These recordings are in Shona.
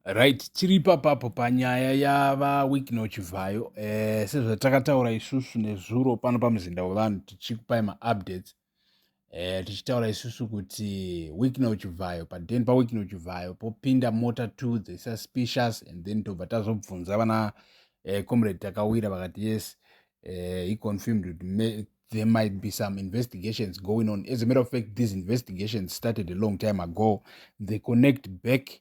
Right, tiri ipapapo panyaya yava Wicknell Chivhayo. Eh, sezvatakataura isusu nezuro pano pamuzinda wevanhu tichikupai maupdates eh, tichitaura isusu kuti Wicknell Chivhayo paden paWicknell Chivhayo popinda mota two the suspicious and then tobva tazobvunza vana eh, comrade Takawira vakati yes eh, he confirmed kuti me, there might be some investigations going on. As a matter of fact, these investigations started a long time ago. They connect back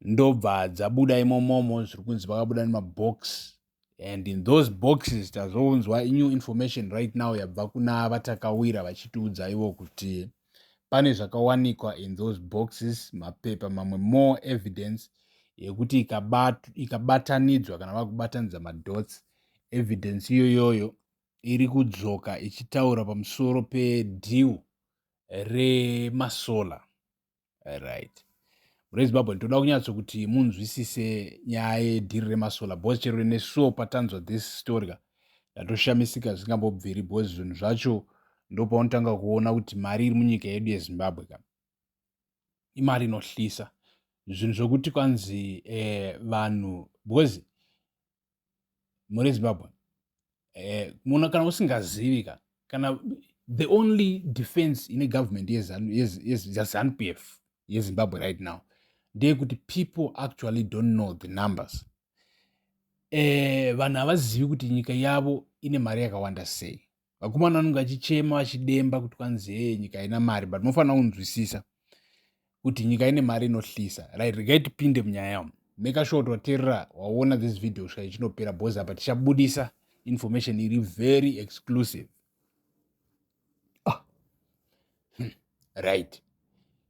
ndobva dzabuda imomomo zviri kunzi vakabuda nemabox and in those boxes tazounzwa new information right now yabva kuna vatakawira vachitiudza ivo kuti pane zvakawanikwa in those boxes mapepa mamwe more evidence yekuti ikabatanidzwa kana vakubatanidza madots evidence iyoyoyo iri kudzoka ichitaura pamusoro pedeal remasolar right rezimbabwe ndinoda kunyatso kuti munzwisise nyaya yedhiri remasolar bcause chero nesuwo patanzwa this story ka ndatoshamisika zvisingambobviri bcause zvinhu zvacho ndopaunotanga kuona kuti mari iri munyika yedu yezimbabwe ka imari inohlisa zvinhu zvokuti kwanzi eh, vanhu bcause muri zimbabwe eh, muna kana usingazivi ka kana the only defense ine government yezanu p f yezimbabwe right now ndeyekuti people actually don't know the numbers eh, vanhu havazivi kuti nyika yavo ine mari yakawanda sei vakomana vanenge vachichema vachidemba kuti kwanzi hee nyika haina mari but mofanira kunzwisisa kuti nyika ine mari inohlisa right regai tipinde munyaya yamo make sure kuti waterera waona this video svika ichinopera bos apa tichabudisa information iri very exclusive hmm. right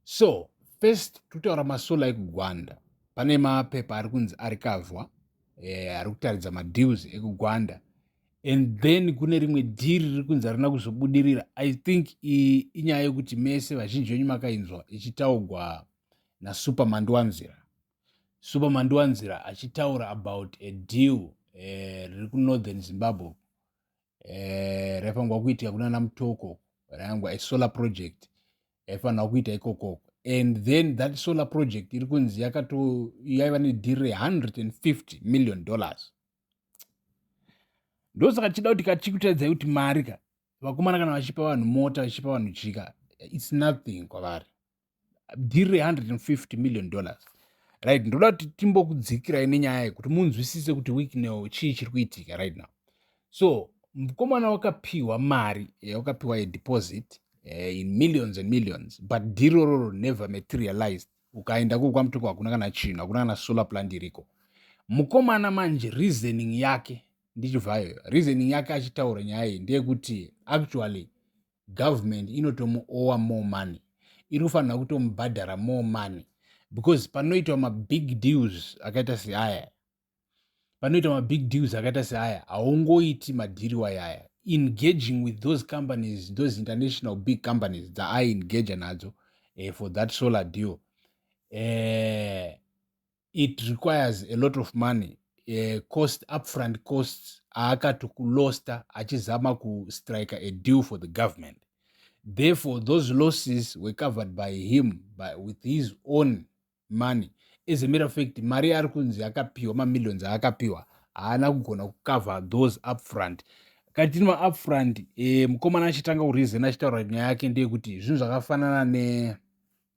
so first totaura masola ekugwanda pane mapepa ari kunzi ari kavhwa eh, ari kutaridza madeals ekugwanda and then kune rimwe dhiri riri kunzi harina kuzobudirira i think inyaya yekuti mese vazhinji venyu makainzwa ichitaugwa nasuperman ndiwanzira superman ndiwanzira achitaura about a deal eh, riri eh, kunorthern zimbabwe eh, raifanirwa kuitika kunana mutoko rayangwa isolar project yaifanirwa kuita ikokoko and then that solar project iri kunzi yakato yaiva nedhiri re150 million dollars ndosaka tichida kuti kachikutadzai kuti mari ka vakomana kana vachipa vanhu mota vachipa vanhu chika its nothing kwavari dhiri re-150 million dollars right ndoda kuti timbokudzikirai nenyaya yekuti munzwisise kuti weeknow chii chiri kuitika right now so mukomana wakapiwa mari yawakapiwa eh, yedeposit eh, in millions and millions but dhiri rororo never materialized ukaenda kuko kwamutoko hakuna kana chinhu hakuna kana solar plant iriko mukomana manje reasoning yake ndichibvayo reasoning yake achitaura nyaya iyi ndeyekuti actually government inotomuowa more money iri kufanira kutomubhadhara more money because panoitwa mabig deals akaita seaya panoitwa mabig deals akaita seaya haungoiti madhiri wayaya engaging with those companies those international big companies dzaaengage nadzo uh, for that solar deal uh, it requires a lot of money uh, cost upfront costs aakati kulosta achizama kustrike a deal for the government therefore those losses were covered by him by, with his own money as a matter of fact mari yaari kunzi akapiwa mamillions aakapiwa haana kugona kucover those upfront katini maupfront e, eh, mukomana achitanga kurizena achitaura nyaya yake ndeyekuti zvinhu zvakafanana ne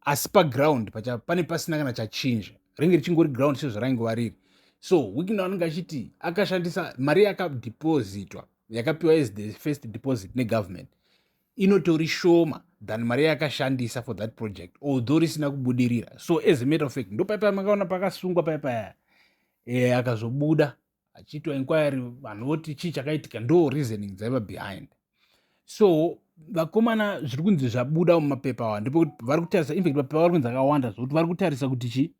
asi paground pacha pane pasina kana chachinja ringe richingori ground sezvaraingova riri so wikina anenge achiti akashandisa mari yakadepositwa yakapiwa as the first deposit negovernment inotori shoma than mari yakashandisa for that project although risina kubudirira so as a matter of fact ndopaipa makaona pakasungwa paipaya e, eh, akazobuda achiitwa inquiry vanhu voti chii chakaitika ndo reasoning dzaiva behind so vakomana zviri kunzi zvabuda mumapepa awa ndipo kuti vari kutarisa infact mapepa vari kunzi akawanda zvokuti vari kutarisa kuti chii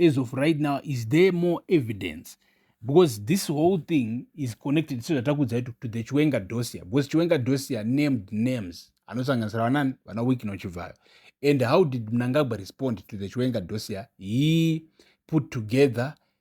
as of right now is there more evidence because this whole thing is connected sezvatakuudzai to, to the chiwenga dosia because chiwenga dosia named names anosanganisira vanani vana wiki nochivhayo and how did mnangagwa respond to the chiwenga dosia he put together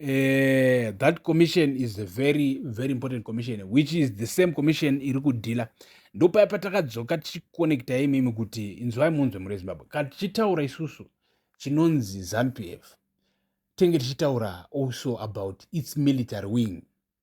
uh, that commission is a very very important commission which is the same commission iri kudhila ndopaya patakadzoka tichikonekta imimi kuti inzwai munzwe muri zimbabwe kana tichitaura isusu chinonzi zampf tenge tichitaura also about its military wing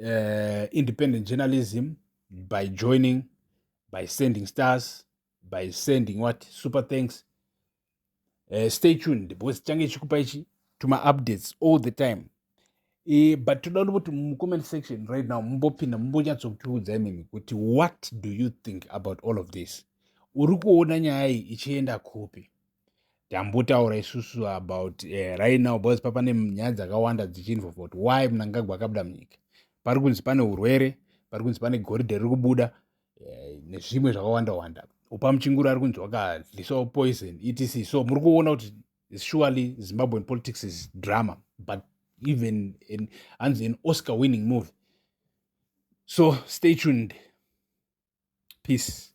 uh, independent journalism by joining by sending stars by sending what super thanks uh, stay tuned because change chikupa ichi to my updates all the time e, but toda kuti mucomment section right now mumbopinda mumbonyatsokutiudza imimi kuti what do you think about all of this uri kuona nyaya iyi ichienda kupi tambotaura isusu about uh, right now because papane nyaya dzakawanda dzichinzwa kuti why mnangagwa akabuda munyika pari kunzi pane urwere pari kunzi pane goridhe riri kubuda uh, nezvimwe zvakawanda wanda upa muchinguru ari kunzi wakadlisawo poison etc so muri kuona kuti surely zimbabwean politics is drama but even hanzi an oscar winning movie so stay tuned peace